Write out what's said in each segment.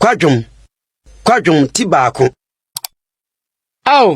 Kwadwom, kwadwom ti baako. Ao,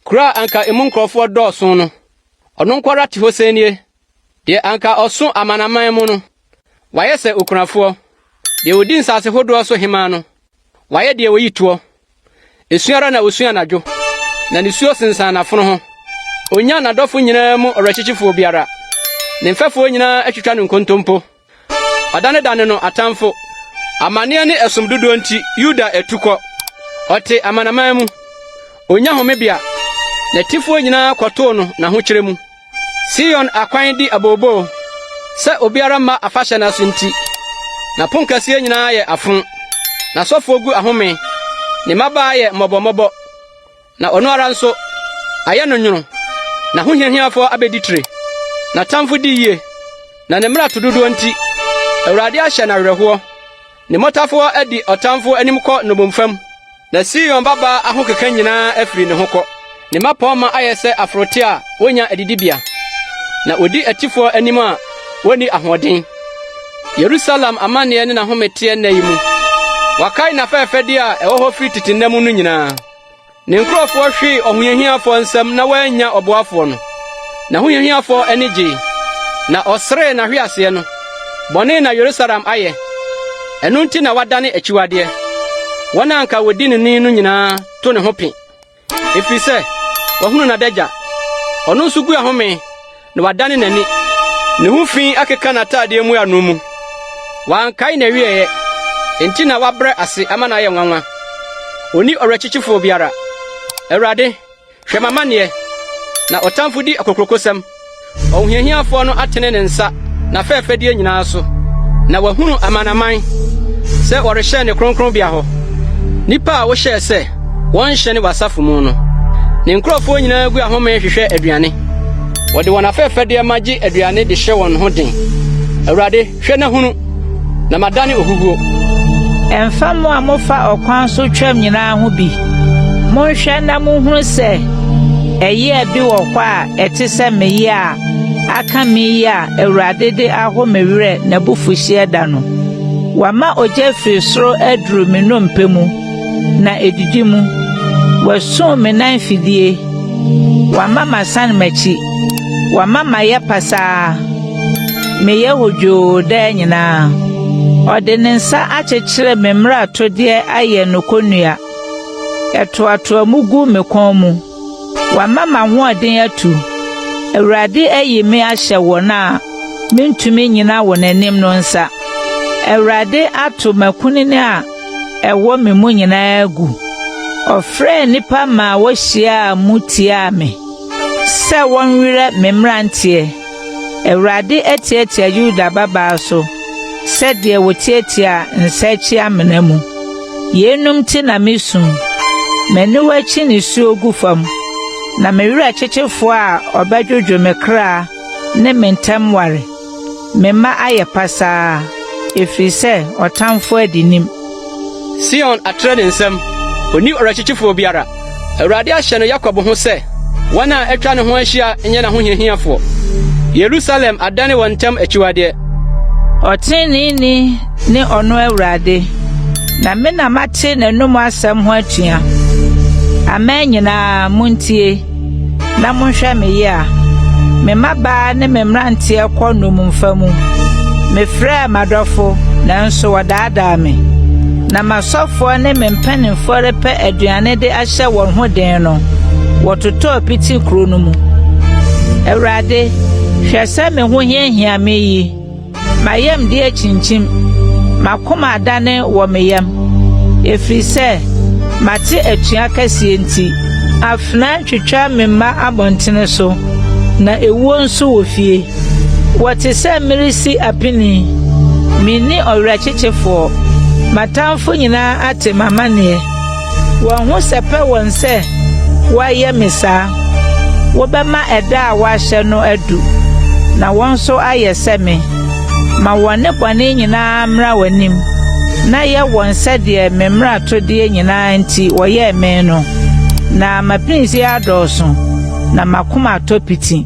kuro a anka emu nkurɔfoɔ dɔɔso no, ɔno nko ara te hɔ sɛ nie. Deɛ anka ɔso amanaman mu no, wayɛ sɛ okunafoɔ. Deɛ ɔdi nsase hodoɔ so hemmaa no, Wayɛ deɛ ɔyi toɔ. Esu ara na ɔsu anadwo, na ne suo sensan n'afono ho. Ɔnnya n'adɔfo nyinaa mu ɔwerɛkyekyefoɔ biara. Ne mfɛfoɔ nyinaa atwitwa no nkontompo. Ɔdanedane no atamfo. Amanneɛ ne ɛsom dodoɔ nti, Yuda atu kɔ. Ɔte amanaman mu. Ɔnnya homebea. N'atifoɔ nyinaa kɔtoo no n'ahokyerɛ mu. Sion akwan di abooboo, sɛ obiara mma afahyɛ no ase nti. N'aponkɛseɛ nyinaa yɛ afo, n'asɔfoɔ gu ahome, ne mmabaa yɛ mmɔbɔmmɔbɔ, na ɔno ara nso, ayɛ no nwono. N'ahohiahiafoɔ abɛdi tire, n'atamfo di yie, na ne mmarato dodoɔ nti, Awurade ahyɛ no awerɛhoɔ. Ne mmotafowa adi ɔtamfo anim kɔ nnommumfa mu, na Sion babaa ahokeka nyinaa afiri ne ho kɔ. Ne mmapɔmma ayɛ sɛ aforote a wonnya adidibea, na wodi atifoɔ anim a wonni ahoɔden. Yerusalem amanneɛ ne n'ahome teɛ nnɛ yi mu. Wɔakae n'afɛɛfɛdeɛ a ɛwɔ hɔ firi tete nna mu no nyinaa. Ne nkurɔfoɔ hwee ɔhohiahiafoɔ nsam na wɔannya ɔboafoɔ no. N'ahohiahiafoɔ ani gyee, na ɔseree n'ahweaseɛ no. Bɔne na Yerusalem ayɛ, ɛno nti na wadane akyiwadeɛ. Wɔn a anka wɔdi no ni no nyinaa to ne ho pe, ɛfiri sɛ wahunu n'adagya. Ɔno nso gu ahome. na wadane n'ani. Ne ho fi akeka n'atadeɛ mu ano mu. Wankae n'awieeɛ, enti na wabrɛ ase ama no ayɛ nwanwa. Onni ɔwerɛkyekyefoɔ biara. Awurade, hwɛ m'amanneɛ, na ɔtamfo di akokurokosɛm. Ɔhohiahiafoɔ no atene ne nsa n'afɛɛfɛdeɛ nyinaa so, na wahunu amanaman sɛ wɔrehyɛn ne kronkronbea hɔ, nnipa a wohyɛɛ sɛ Wɔnhyɛne w'asafo mu no, ne nkurɔfoɔ nyinaa gu ahome hwehwɛ aduane. Wɔde wɔn afɛfɛdeɛ ma gye aduane de hyɛ wɔn ho den. Awurade, hwɛ na hunu, na madane ohuhuo. Ɛmfa mo a mofa ɔkwan so twam nyinaa ho bi. Monhwɛ na monhunu sɛ ɛyea bi wɔ hɔ a ɛte sɛ me yea a aka me yi a Awurade de aho me werɛ n'abufuhyeɛ da no. Wama ogya firi soro aduru me nnompe mu. na edidi mu. Wasum me nan fidie, wama masan m'akyi, wama mayɛ pasaa, meyɛ hodwoo daa nyinaa. Ɔde ne nsa akyekyere me mmaratodeɛ ayɛ no kɔnnua, ɛtoatoa mu gu me kɔn mu. Wama m'ahoɔden atu, Awurade ayi me ahyɛ wɔn a mentumi nnyina wɔn anim no nsa. Awurade ato m'akunini a ɛwɔ me mu nyinaa gu. Ɔfrɛɛ nnipa maa wohyiaa mu tiaa me sɛ wɔnwerɛ me mmeranteɛ. Awurade atiatia Yuda babaa so sɛdeɛ wɔtiatia nsa akyi amena mu. Yeinom nti na mesu, m'aniwa akyi nisuo gu fam, na me werɛ kyekye foɔ a ɔbɛdwodwo me kra ne me ntam ware. Me mma ayɛ pasaa, ɛfiri sɛ ɔtamfo adi nim. Sion atrɛ ne nsam, ɔnni ɔwerɛkyekyefoɔ biara. Awurade ahyɛ no Yakob ho sɛ, wɔn a atwa ne ho ahyia nyɛ n'ahohiahiafoɔ. Yerusalem adane wɔn ntam akyiwadeɛ. Ɔteneneeni ne ɔno Awurade, na me na mate n'anom asɛm ho atua. Aman nyinaa, montie! Na monhwɛ me yea. Me mmabaa ne me mmeranteɛ kɔ nnommumfa mu. Mefrɛɛ m'adɔfo, nanso wɔdaadaa me. Na m'asɔfoɔ ne me mpanimfoɔ repɛ aduane de ahyɛ wɔn ho den no, wɔtotɔɔ piti kuro no mu. Awurade, hwɛ sɛ me ho hiahia me yi. M'ayamde akyinkyim, m'akoma adane wɔ me yam, ɛfiri sɛ mate atua kɛseɛ nti. Afenaa twitwa me mma abɔntene so, na ewuo nso wɔ fie. Wɔte sɛ meresi apinie, menni ɔwerɛkyekyefoɔ, m'atamfo nyinaa ate m'amaneɛ. Wɔn ho sɛpɛ wɔn sɛ wɔyɛ me saa. Wobɛma ɛda a woahyɛ no adu, na wɔn nso ayɛ sɛ me. Ma wɔn nnebɔne nyinaa mmra w'anim, na yɛ wɔn sɛdeɛ me mmaratodeɛ nyinaa nti wɔyɛɛ me no. Na m'apinisie adɔɔso, na m'akoma atɔ piti.